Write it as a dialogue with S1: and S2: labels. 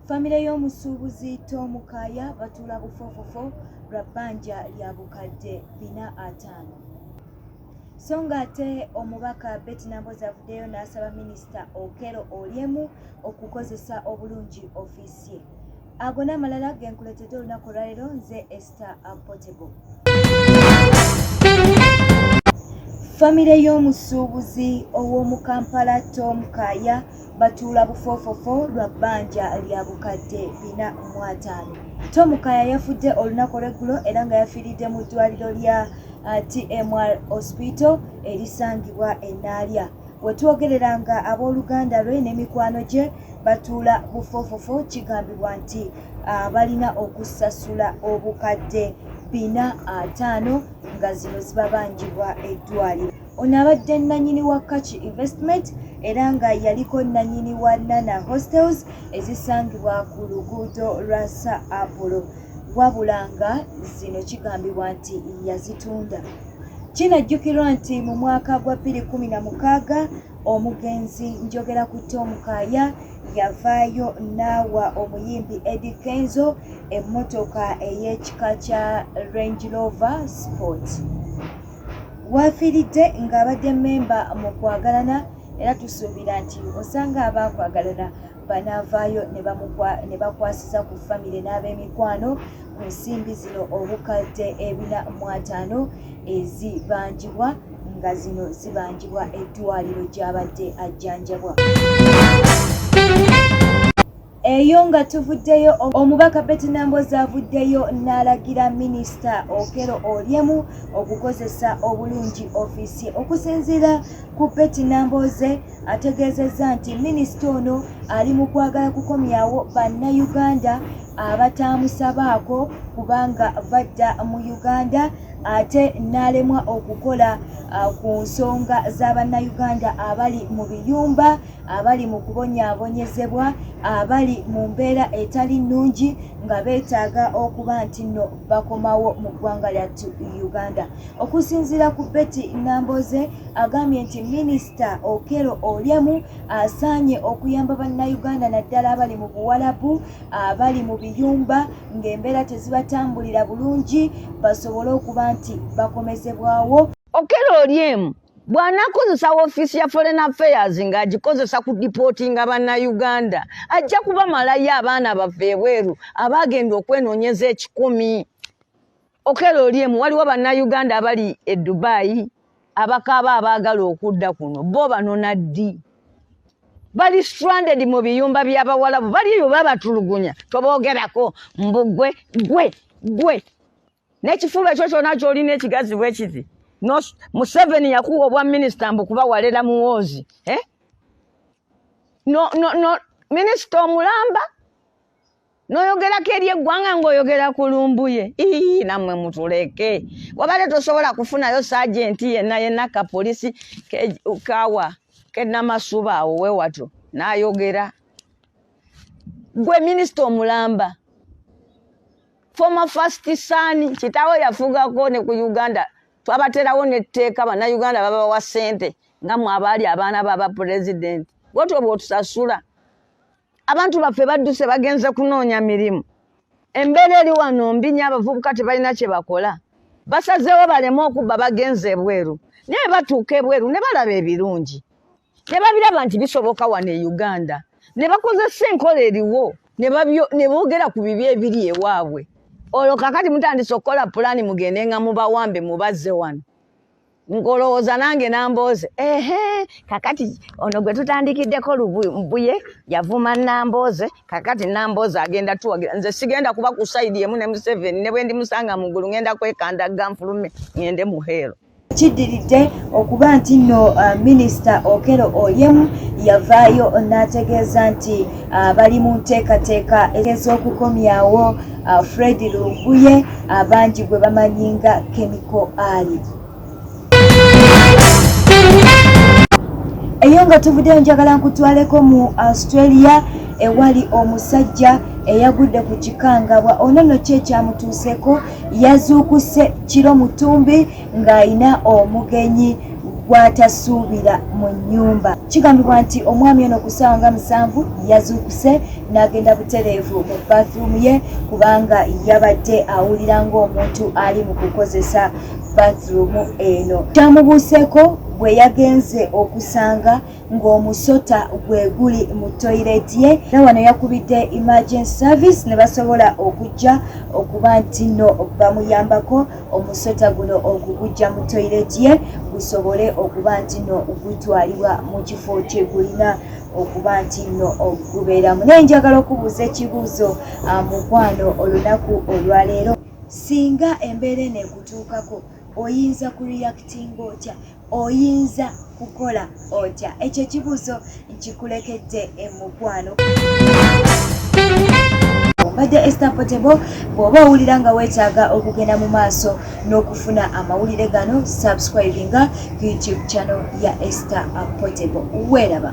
S1: Famire y'omusuubuzi Tom Kaaya batuula bufofofo lwa bbanja lya bukadde bina ataano. So ng'ate omubaka Betty Nambooze avuddeyo n'asaba minisita Okello Oryemu okukozesa obulungi ofiisi ye. ago n'amalala ge nkuleetedde olunaku olwaleero nze ester portable famire y'omusuubuzi ow'omu kampala tom kaaya batuula bufoofofo lwa bbanja lya bukadde bina mu ataano tom kaaya yafudde olunaku olweggulo era nga yafiiridde mu ddwaliro lya uh, tmr hospital erisangibwa enaalya Wetwogerera nga ab'oluganda lwe ne mikwano gye batuula bufoofofo kigambibwa nti ah, balina okusasula obukadde bina ataano nga zino zibabanjibwa eddwaliro. Ono abadde nnanyini wa Kaki Investment era nga yaliko nnanyini wa Nana Hostels ezisangibwa ku luguudo lwa Sir Apollo wabula nga zino kigambibwa nti yazitunda. Kinajjukirwa nti mu mwaka gwa bbiri kkumi na mukaaga omugenzi njogera ku Tom Kaaya yavaayo n'awa omuyimbi Eddy Kenzo emmotoka ey'ekika kya Range Rover Sport. Waafiiridde ng'abadde mmemba mu kwagalana era tusuubira nti osanga abaakwagalana banaavaayo ne bakwasiza ku famire n'ab'emikwano ku nsimbi zino obukadde ebina mu ataano ezibanjibwa nga zino zibanjibwa eddwaliro gy'abadde ajjanjabwa eyo nga tuvuddeyo omubaka beti nambozi avuddeyo n'alagira minisita okero oryemu okukozesa obulungi ofiisi okusinziira Kuppeti Nambooze ategeezezza nti minisita ono ali mu kwagala kukomyawo bannayuganda abataamusabaako kubanga badda mu Uganda ate n'alemwa okukola uh, ku nsonga za bannayuganda abali mu biyumba abali mu kubonyaabonyezebwa abali mu mbeera etali nnungi nga beetaaga okuba nti nno bakomawo mu ggwanga lyattu Uganda. Okusinziira ku Betty Namboze agambye nti minisita Okello Oryemu asaanye okuyamba bannayuganda naddala abali mu Buwalabu abali mu biyumba ng'embeera tezibatambulira bulungi basobole okuba nti bakomezebwawo. Okello
S2: Oryemu bw'anakozesa woofiisi ya foreign affairs ng'agikozesa ku dipootinga bannayuganda ajja kubamalayo abaana baffe ebweru abaagenda okwenoonyeza ekikumi. okelo olyemu waliwo bannayuganda abali e dubayi abakaaba abaagala okudda kuno bo banona ddi bali stranded mu biyumba by'abawalabu bali eyo babatulugunya toboogerako mbu gwe gwe gwe n'ekifuba ekyo kyona kyolina ekigazi bwekiti museveni yakuwa obwa minisita mbu kuba walera muwoozi eh? no, no, no, minisita omulamba noyogerako eri eggwanga ngaoyogera ku lumbuye ii nammwe mutuleke wabadde tosobola kufunayo sajenti yenna yenna kapolisi kawa kenamasuba awo wewatyo nayogera gwe minisita omulamba former first son kitawo yafugako ne ku uganda twabaterawo netteeka banauganda babawa sente nga mwabaali abaana baba pulezidenti wotyo bwotusasula abantu baffe badduse bagenze kunoonya mirimu embeera eri wano mbi nyo abavubuka tebalina kye bakola basazeewo baleme okubba bagenze ebweru naye batuuka ebweru ne balaba ebirungi ne babiraba nti bisoboka wano e uganda ne bakozesa enkola eriwo ne boogera ku bibi ebiri ewaabwe olwo kakati mutandise okukola pulaani mugende nga mubawambe mubazze wano ngolowooza nange nambooze ehe kakati ono gwe tutandikiddeko lubuye yavuma nambooze kakati nambooze agenda tuwagira nze sigenda kuba ku saidi emu ne museveni ne bwendi musanga mu ggulu ngenda kwekanda ganfulume ngende mu heero kiddiridde
S1: okuba nti nno uh, minisita okero oyemu yavaayo n'ategeeza nti uh, bali mu nteekateeka ez'okukomyawo uh, Fred Lunguye abangi gwe bamanyi nga Chemical Ali. Eyo nga tuvuddeyo njagala nkutwaleko mu Australia ewali omusajja eyagudde ku kikangabwa ono no kye kyamutuuseko yazuukuse kiro mutumbi ng'alina omugenyi gw'atasuubira mu nnyumba. Kigambibwa nti omwami ono ku ssaawa nga musanvu yazuukuse n'agenda butereevu mu bathroom ye kubanga yabadde awulira ng'omuntu ali mu kukozesa bathroom eno. Kyamubuuseeko bwe yagenze okusanga ng'omusota gwe guli mu toyireti ye era wano yakubidde emergency service ne basobola okujja okuba nti nno bamuyambako. omusota guno okugujja mu toyireti ye gusobole okuba nti no gutwalibwa mu kifo kye gulina okuba nti nno okubeeramu naye njagala okubuuza ekibuuzo ah, mukwano olunaku olwaleero singa embeera eno ekutuukako oyinza ku reactinga otya oyinza kukola otya ekyo ekibuuzo nkikulekedde emukwano mbadde ester potebo bw'oba owulira nga weetaaga okugenda mu maaso n'okufuna amawulire gano subscribinga youtube channel ya ester potebo weeraba